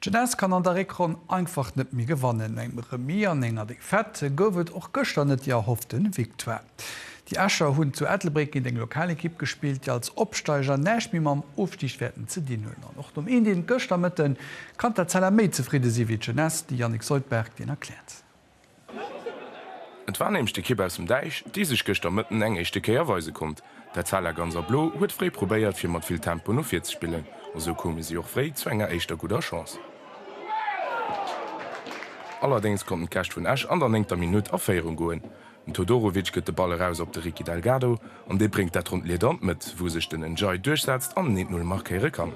D'Jeunesse kann an der Réckronn einfach net méi gewannen. No engem Remis an enger Défaite gouf et och gëschter net déi erhoffte Victoire. Déi Escher hunn zu Ettelbréck géint eng lokal Ekipp gespillt, déi als Opsteiger näischt méi mam Ofstig wäerten ze dinn hunn. An och nom Een-Een gëschter Mëtten kann d'Etzella méi zefridde si wéi d'Jeunesse, de Yannick Seutberg deen erkläert. Et war nämlech d'Ekipp aus dem Däich, déi sech gëschter Mëtten eng éischte Kéier weise konnt. D'Etzella Gans a Blo huet fréi probéiert, fir mat vill Tempo no vir ze spillen, a sou koume si och fréi zu enger éischter gudder Chance. Allerdéngs konnten d'Gäscht vun Esch an der néngter Minutt a Féierung goen. Den Todorovic gëtt de Ball eraus op de Ricky Delgado, an dee bréngt dat ronnt Lieder an d'Mëtt, wou sech den N'Diaye duerchsetzt an en 1-0 markéiere kann.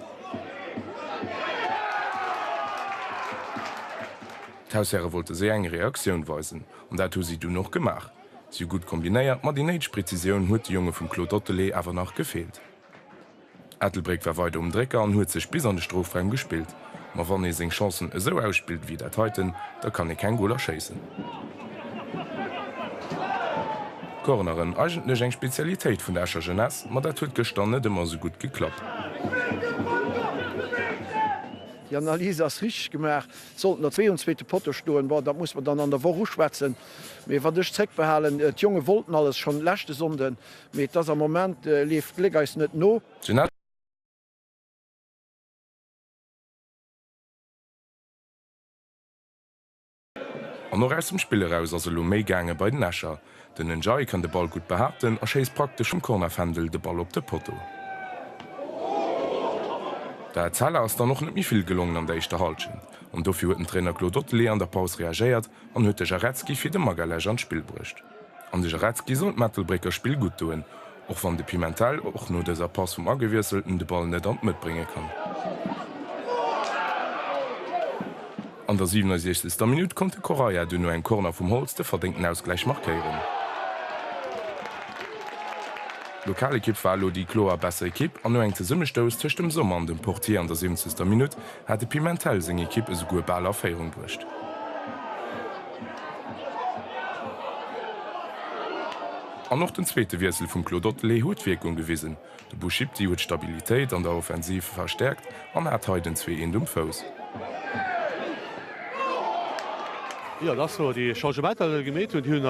D'Haushäre wollte séier eng Reaktioun weisen, an dat hu si dunn och gemaach. Si hu gutt kombinéiert, ma déi néideg Prezisioun huet de Jonge vum Claude Ottele awer nach gefeelt. Ettelbréck war weider um Drécker an huet sech bis an de Strofraum gespillt, ma wann ee seng Chancen esou ausspillt ewéi dat heiten, da kann ee keng Goler schéissen. Corneren, eigentlech eng Spezialitéit vun der Escher Jeunesse, ma dat huet gëschter net ëmmer esou gutt geklappt. Déi Analys ass richteg gemaach. Sollten der zwee um zweete Potto stoen, bon, dat muss mer dann an der Woch uschwätzen. Mee wat ech zréckbehalen, d'Jonge wollten alles schonn leschte Sonnden, mee et ass am Moment, leeft d'Gléck eis net no. Jeanette. An och aus dem Spill eraus ass elo méi gaange bei den Escher. Den N'Jai kann de Ball gutt behaapten a schéisst praktesch vum Cornerfändel de Ball op de Potto. Der Etzella ass dann och net méi vill gelongen an der éischter Hallschent an dofir huet den Trainer Claude Ottele an der Paus reagéiert an huet de Jarecki fir de Magalhaes an d'Spill bruecht. An de Jarecki sollt d'Mettelbrécker Spill gutt doen. Och wann de Pimentel och no dëser Pass vum Agewiesselten de Ball net an d'Mëtt brénge kann. An der 67. Minutt konnt de Correia dunn no engem Corner vum Holtz de verdéngten Ausgläich markéieren. D'Lokalekipp war elo déi kloer besser Ekipp an no engem Zesummestouss tëscht dem Sommer an dem Portier an der 70. Minutt hat de Pimentel seng Ekipp esouguer bal a Féierung bruecht. An och den zweete Wiessel vum Claude Ottele huet Wierkung gewisen. De Bouschipdy huet d'Stabilitéit an der Offensiv verstäerkt an hat hei den Zwee-eent um Fouss. Jo, dass mer déi Changementer elo gemeet hunn, déi hunn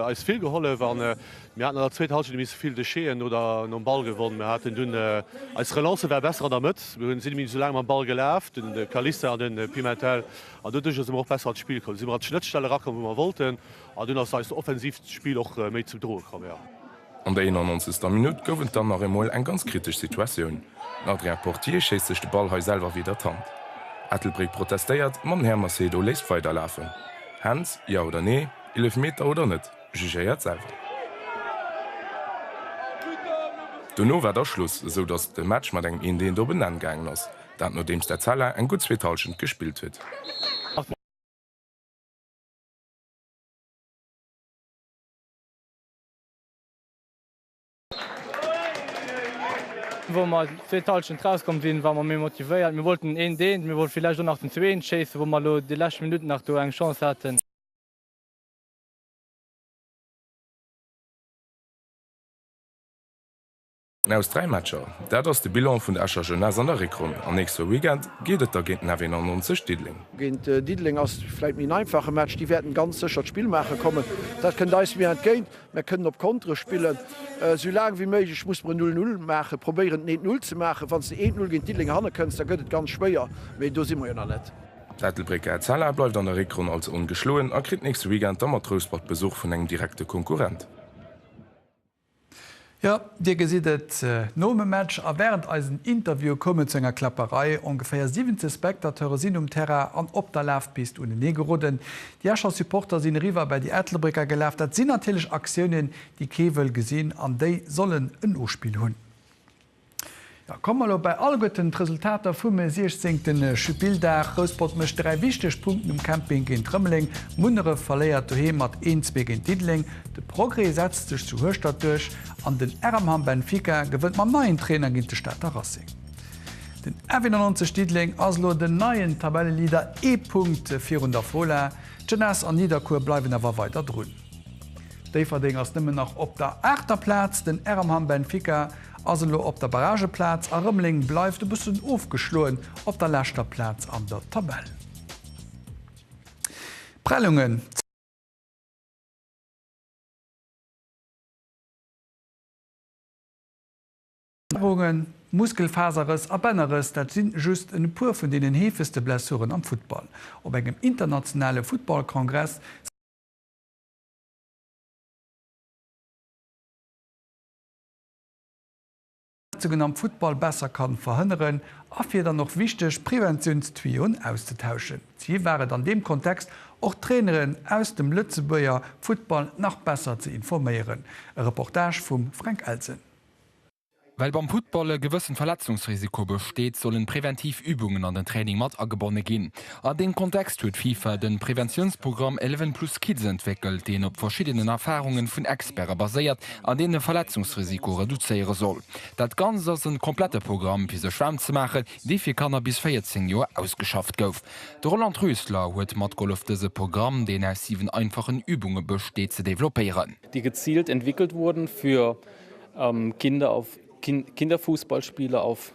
eis vill gehollef. A mir haten an der zweeter Halschent e bisse vill Dechet'en oder nom Ball gewonn. Mir haten dunn, eis Relancë war besser an der Mëtt, mir hunn, sinn e bisse méi esou laang mam Ball gelaf, den Calista an de Pimentel, an doduerch ass et mer och besser an d'Spill komm. Sinn mer an d'Schnëttstell erakomm, wou mer wollten. An dunn ass eist offensivt Spill och méi zum Droe komm, jo. An der 91. Minutt gouf et dann nach emol eng ganz kritesch Situatioun. Den Adrien Portier schéisst sech de Ball hei selwer widder d'Hand. Ettelbréck protestéiert, ma den Här Macedo léisst weiderlafen. Hands, ja oder nee? Eelefmeter oder net? Jugéiert selwer. Dono war da Schluss, esou datt de Match mat engem Eent Eent op en Enn gaangen ass, dat nodeems d'Etzella eng gutt zweet Hallschent gespillt huet. Wou mer zweet Halschent rauskomm sinn, ware mer méi motivéiert. Mir wollten een deen, mir wollte villäicht och nach den zweeten schéissen, wou mer elo déi lescht Minutt nach do eng Chance haten. Aus dräi Matcher, dat ass de Bilan vun der Escher Jeunesse an der Réckronn. Am nächste Weekend geet et da géint den F91 Diddeleng. Géint Diddeleng ass et vläicht méi en einfache Match. Déi wäerten ganz sécher d'Spill maache kommen. Dat kënnt eis méi entgéint. Mär kënnen op Kontere spillen. Esou laang wéi méiglech musse mer en Null Null maachen, probéieren den Eent Null ze maachen. Wann s de Eent Null géint Diddeleng hanne kënns, da gëtt et ganz schwéier. Mee do si mer jo nach net. D'Ettelbrécker Etzella bleift an der Réckronn als ongeschloen a kritt nächste Weekend da mat Rouspert Besuch vun engem direkte Konkurrent. Jo, Dir gesitt et, Nom e Match a wärend eisen Interviewe koum et zu enger Kläpperei. Ongeféier 17 Spectateure sinn um Terrain an op der Lafpist unenee geroden. Déi Escher Supporter sinn eriwwer bäi déi Ettelbrécker gelaf. Dat sinn natierlech Aktiounen, déi kee wëll gesinn an déi sollen en Nospill hunn. Jo, komme mer elo bei alleguerten d'Resultater vum siechzéngte Spilldag. Rouspert mécht 3 wichteg Punkten um Camping géint Rëmeleng, Munneref verléiert doheem mat 1, 2 géint Diddeleng, de Progrès setzt sech zu Hueschtert duerch an den RMHAM Benfica gewënnt mam neien Trainer géint de Stater Racing. Den F91 Diddeleng ass elo den neien Tabelleleader, ee Punkt virun der Fola. D'Jeunesse an Nidderkuer bleiwen awer weider drun. Déifferdeng ass nëmmen nach op der aachter Plaz, den RMHAM Benfica Ass elo op der Barrageplaz a Rëmeleng bleift e bëssen ofgeschloen op der leschter Plaz an der Tabell. Prellungen. Zerrungen, Muskelfaserrëss a Bännerrëss, dat si just e puer vun deenen heefegste Blessuren am Futtball. Op engem internationale Futtballkongress si. Verletzungen am Futtball besser kann verhënneren a fir dann och wichteg Preventiounstuyau'en auszetauschen. D'Zil war et an deem Kontext och d'Traineren aus dem Lëtzebuerger Futtball nach besser ze informéieren. E Reportage vum Fränk Elsen. Well beim Futtball e gewëssen Verletzungsrisiko besteet, sollen preventiv Übungen an den Training mat agebonne ginn. A deem Kontext huet FIFA de Preventiounsprogramm Eleven Plus Kids entwéckelt, deen op verschiddenen Erfarunge vun Experte baséiert an deen de Verletzungsrisiko reduzéiere soll. Dat Ganzt ass e komplette Programm, fir sech waarm ze maachen, dee fir Kanner bis 14 Joer ausgeschafft gouf. De Roland Rösler huet matgehollef dëse Programm, deen aus 7 einfachen Übunge besteet, ze developpéieren. déi gezielt entwickelt wurden, für Kinder auf Kinderfußballspiele auf.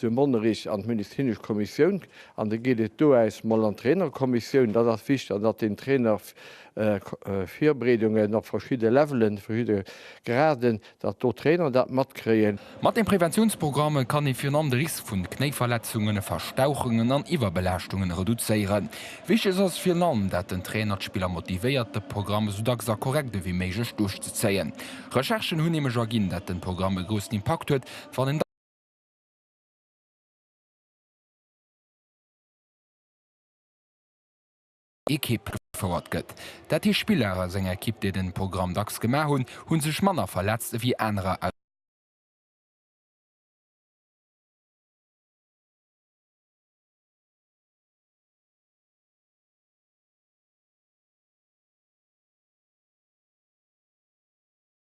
de Monnerich an d'medizinesch Kommissioun an da geet et doäus mol an d'Trainerkommissioun. Dat ass wichteg an datt den Trainer Virbereedungen op verschidde Levelen, verschidde Graden, datt do d'Trainer dat matkréien. Mat de Preventiounsprogramme kann ee virun allem de Risk vun Knéiverletzungen, Verstauchungen an Iwwerbelaaschtunge reduzéieren. Wichteg ass virun allem dat den Trainer d'Spiller motivéiert de Programm esou dacks a korrekt ewéi méiglech duerchzezéien. Recherchen hunn nämlech erginn dat den Programm e groussen Impakt huet wann een. Ekipp gefouert gëtt. Dat heescht Spiller aus enger Ekipp déi den Programm dacks gemaach hunn, hunn sech manner verletzt ewéi anerer aus.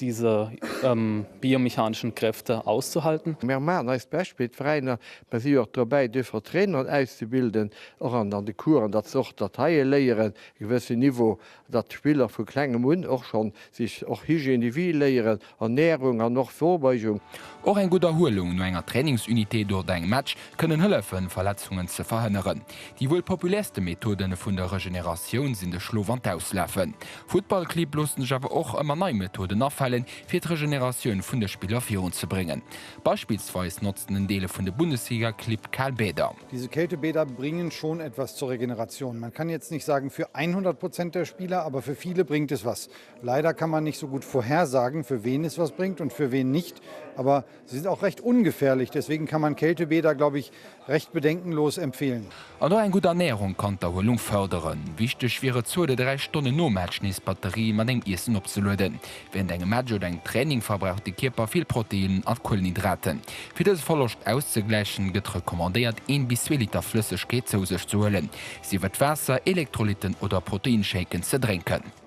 Diese biomechaneschen Kräfte auszuhalten. Mir maachen eist Bescht fir d'Veräiner, mä si jo och dobäi duerfir d'Traineren auszebilden, och an de Coursen, datt se och dat heie léieren, e gewëssen Niveau, datt d'Spiller vu klengem un och schonn sech och Hygiène de vie léieren, Ernährung an och Vorbeugung. Och eng gutt Erhuelung no enger Trainingsunité oder engem Match kënnen hëllefen, Verletzungen ze verhënneren. Déi wuel populärste Methode vun der Regeneratioun sinn de Schlof an d'Auslafen. Futtballclibb loossen sech awer och ëmmer nei Methoden afalen, fir d'Regeneratioun vun de Spiller virunzebréngen. Beispillsweis notzen en Deel vun de Bundesligaclibb kal Bäder. Diese kalte Bäder bringen schon etwas zur Regeneration. Man kann jetzt nicht sagen für 100 Prozent der Spieler, aber für viele bringt es was. Leider kann man nicht so gut vorhersagen, für wen es was bringt und für wen nicht, aber. Sie sind auch recht ungefährlich, deswegen kann man Kältebäder, glaube ich, recht bedenkenlos empfehlen. An och eng gutt Ernährung kann d'Erhuelung fërderen. Wichteg wier et, zwou oder dräi Stonnen nom Match nees d'Batterie mat engem Iessen opzelueden. Wärend engem Match oder engem Training verbraucht de Kierper vill Proteinnen a Kuelenhydraten. Fir dëse Verloscht auszegläichen, gëtt recommandéiert, een bis zwee Liter Flëssegkeet zou sech ze huelen, sief et Waasser, Elektrolytten oder Proteinshaken, ze drénken.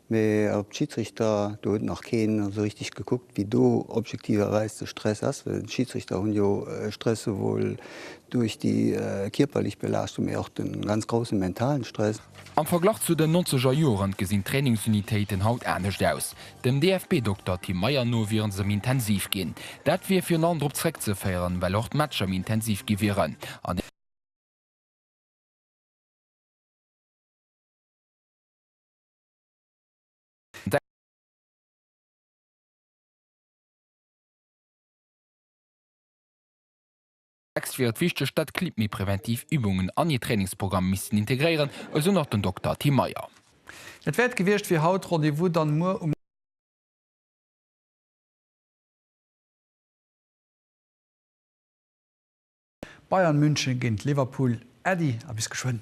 Mee op d'Schiedsrichter, do huet nach keen esou richteg gekuckt, wéi do objektiverweis de Stress ass. Well d'Schiedsrichter hunn jo Stress souwuel duerch déi kierperlech Belaaschtung, mee och de ganz grousse mentalen Stress. Am Verglach zu den nonzeger Joren gesinn d'Trainingsunitéiten haut anescht aus. Dem DFB-Dokter Tim Meyer no wieren se méi intensiv ginn. Dat wier virun allem drop zeréckzeféieren, well och d'Matcher méi intensiv gi wieren an. D'Texte fir et wichteg, datt d'Clibb méi preventiv Übungen an hir Trainingsprogramm missten integréieren, esou nach den Dokter Tim Meyer. Dat wär et gewiescht fir haut. Rendez-vous dann muer um. Bayern München géint Liverpool, Äddi a bis geschwënn!